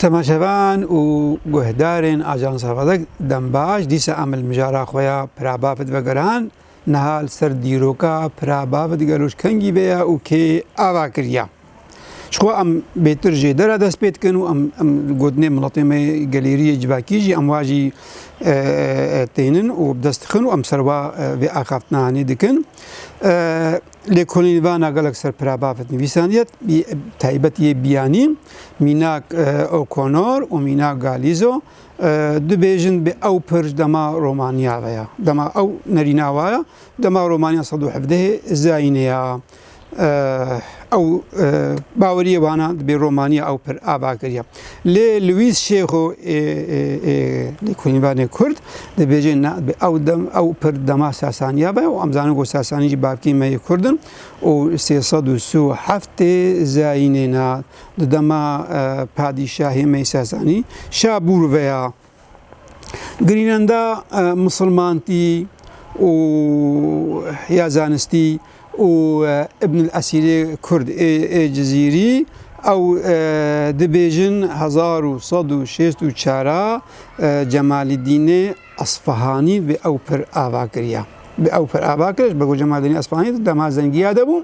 Temaşevan û guhdarên Ajansa Xwedek dembaş dîsa em li mijara xwe ya Pira Bafid veguran. Niha li ser dîroka Pira Bafid gelo ji kengî ve ye û kê ava kiriye? Ji xwe em bêtir jê dera dest pê dikin û em em gotinê miletê me gelêriyê civakî jî em wa jî e, e, tênin û bi dest dixin û em serva vê axaftina hanê dikin. E, Lêkolîn vana gelek ser pira bavê nivîsaniyê taybet yê biyanî mînak O'Connor û mînak Galizo dibêjin bi ew pir dema romaniya ve ya. Dema ew nerîna wa ya, dema romaniya sed û hevdehê Zaînê ya. Ew baweriyê wana dibê romaniya ew pir ava kiriya. Lê Luîs Şêxo ê ê lêkolînvanê Kurd dibêje na bi ew dem ew pir dema Sasaniya be û em zanin ku Sasanî jî bavkê me yê Kurd in û sê sed û si û heft tê zayînê na di dema padîşahê me yê Sasanî Şabûr veya Grînlanda misilmantî û ya zanistî û Ibn el Esîrê Kurd ê Cizîrî ew dibêjin hezar û sed û şêst û çar a Cemalîdînê Esfahanî bi ew pir ava kiriya. Bi ew pir ava kiriş bi Cemalîdînê Esfahanî di dema zengiya de bû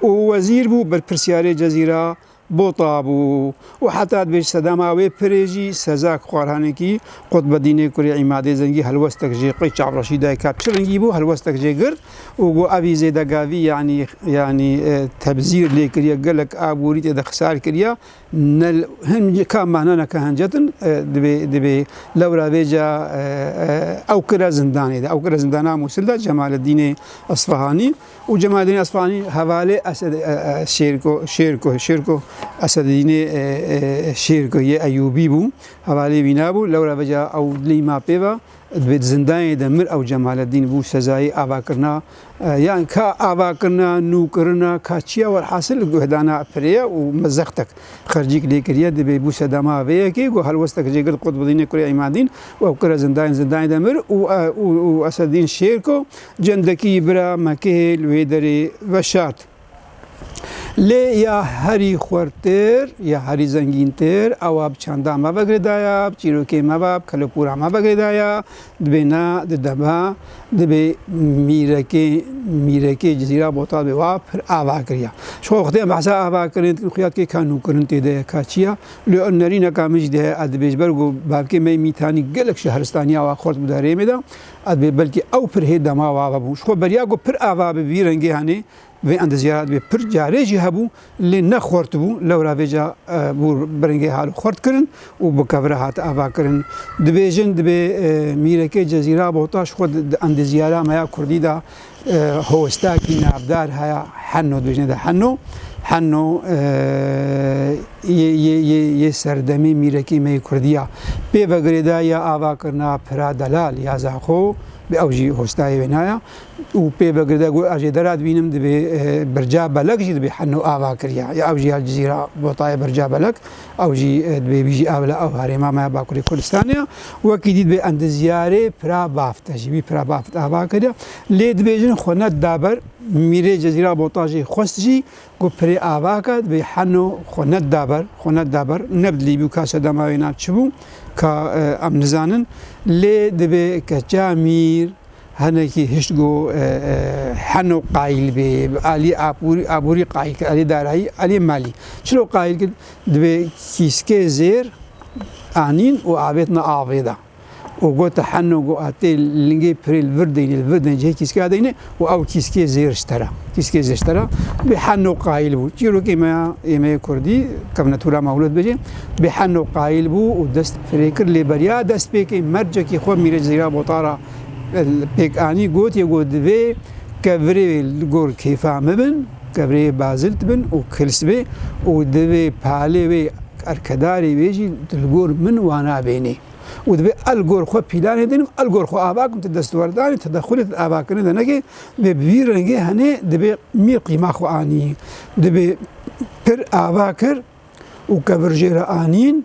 û wezîr bû berpirsyarê Cezîra Bota bû û heta dibêj sedema wê pirê jî Sezak Xwarhanekî, Qutbedînê kurê Îmadê Zengî helwestek jê qey çavreşî dayê ka çi rengî bû helwestek jê girt û got evî zêdegavî yanî yanî tebzîr lê kiriye gelek aborî tê de xisar kiriye ne hin ka mehna neke hencetin dibê dibê lewra vê ca ew kire zindanê de ew kire zindana Mûsil de Cemaleddînê Isfahanî Û Cemaledîn Esfahani hevalê Şêrko Şêrko Şêrko Esedînê Şêrko yê Eyûbî bû, hevalê wî nabû, lewra veca ew lî ma pê ve, divê di zindanê de mir ew Cemaledîn bû sezayê avakirina yan ka avakirina, nûkirina ka çi ya welhasil guhdana pirê ye û me zextek xercîk lê kiriye, divê bû sedema vê yekê ku helwestek jê girt Qutbudînê kurê Îmandîn û ew kire zindanê zindanê de mir û û Esedîn Şêrko Cendekî bira me kihê li wê derê veşart. Lê ya herî xwertir, ya herî zengîntir, ewa bi çanda me ve girêda ya, bi çîrokê me ve, bi kelopûra me ve girêda ya, dibê ne, dide me, dibê mîrekê, mîrekê Cizîra Botal bê wa pir ava kiriya. Ji xwe xwediyên behsa ava kirin dikin xuya dikê ka nûkirin tê de ye, ka çi ye. Lê ew nerîneka min jî de heye, ez dibêjim ber ku bavkê me yê Mîtanî gelek şehristaniya wa xwert bû di herêmê de. Ez dibê belkî ew pir hê dema ava vebû. Ji xwe beriya ku pir ava bi vî rengê henê vê endeziyara dibê pir carê jî hebû lê ne xort bû. Lewra vê ca bû bi rengê hal û xort kirin û bi kevre hat ava kirin. Dibêjin dibê mîrekê Cezîra Bohta ji xwe di endeziyara me ya kurdî de Hosta ki navdar haya Henno dibêjne de Henno. Henno yê serdemê mîrekê me yê Kurdî ya. Pê vegirê de ya ava kirina Pira Delal ya Zaxo bi ew jî hostayê wê naya û pê vegirê de got ez jê dera dibînim dibê Birca Belek jî dibê Henno ava kirîya ya ew jî ya Cizîra botayê Birca Belek. Ew jî dibê bîjî ev li ew herêma me ya Bakurê Kurdistanê ya. Wekî dît bê endizyarê Pira Baft e jî wî Pira Baft ava kiriya. Lê dibêjin xwe ne da ber. Mîrê Cezîra Botajê xwest jî ku Pirê ava ke dibê heno xwe ne da ber, xwe ne da ber. Ne bi dilî bû ka sedema wê nav çi bû ka em nizanin. Lê dibê keça Mîr Hinekî hişt got Heno qayîl bê, alî aborî qayîl kir, alî darayî, alî malî. Çilo qayîl kir? Divê kîskê zêr anîn û avêtina avê de. Û got Heno got atê lingê pirê li vir deynê, li vir deynê cihê kîskeya deynê û ew kîskê zêr ji te re. Kîskê zêr ji te re. Divê Heno qayîl bû. Çîrokê me ya êmeyê kurdî, kevne tûra me hûret bijî. Divê Heno qayîl bû û dest pirê kir lê beriya dest pê kê mercekî xwe mîrê zêra botara. li pêkanî gotiye ku divê kevirê li gor kêfa me bin, kevirê bazilt bin û kils be û divê palê wê erkedarê wê jî tu li gor min wana bênî û divê a li gor xwe pîlanê dênim a li gor xwe ava kim tu destwerdanê tedexulê tu di avakirinê de nekî divê bi vî rengê henê divê mîr qîma xwe anî divê pir ava kir û kevir jê re anîn.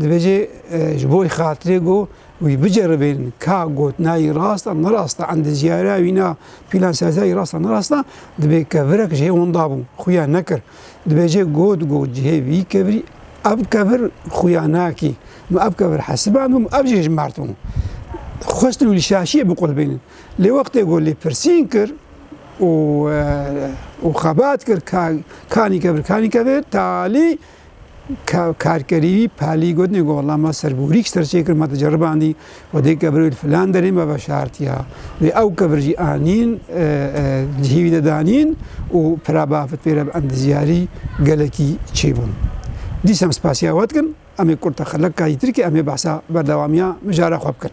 Dibêje ji bo wî xatirê got wî biceribîn ka gotina wî rast a nerast a, endiziyariya wî na pîlan serziya wî rast a nerast a, dibê kevirek ji hê wan dabû, xuya nekir. Dibêje got got ji hê vî kevirî ev kevir xuya nakî, min ev kevir hesiband bû, min ev jî hijmart bû. Xwestin wî li şaşiyê biqulbînin. Lê wextê got lêpirsîn kir û û xebat kir ka kanî kevir kanî kevir talî Ka karkerî wî Palî got nê ku wela ma ser bi hurîk ji ser çêkir ma te ceribandî û dê kevir wê li filan derê me veşartiya wê ew kevir jî anîn cihî wî de danîn û pira bafit pê re bi endizyarî gelekî çêbûn. Dîsem spasiya we dikin em ê kurta xelek ka jî tirkî em ê behsa berdewamiya mijara xwe bikin.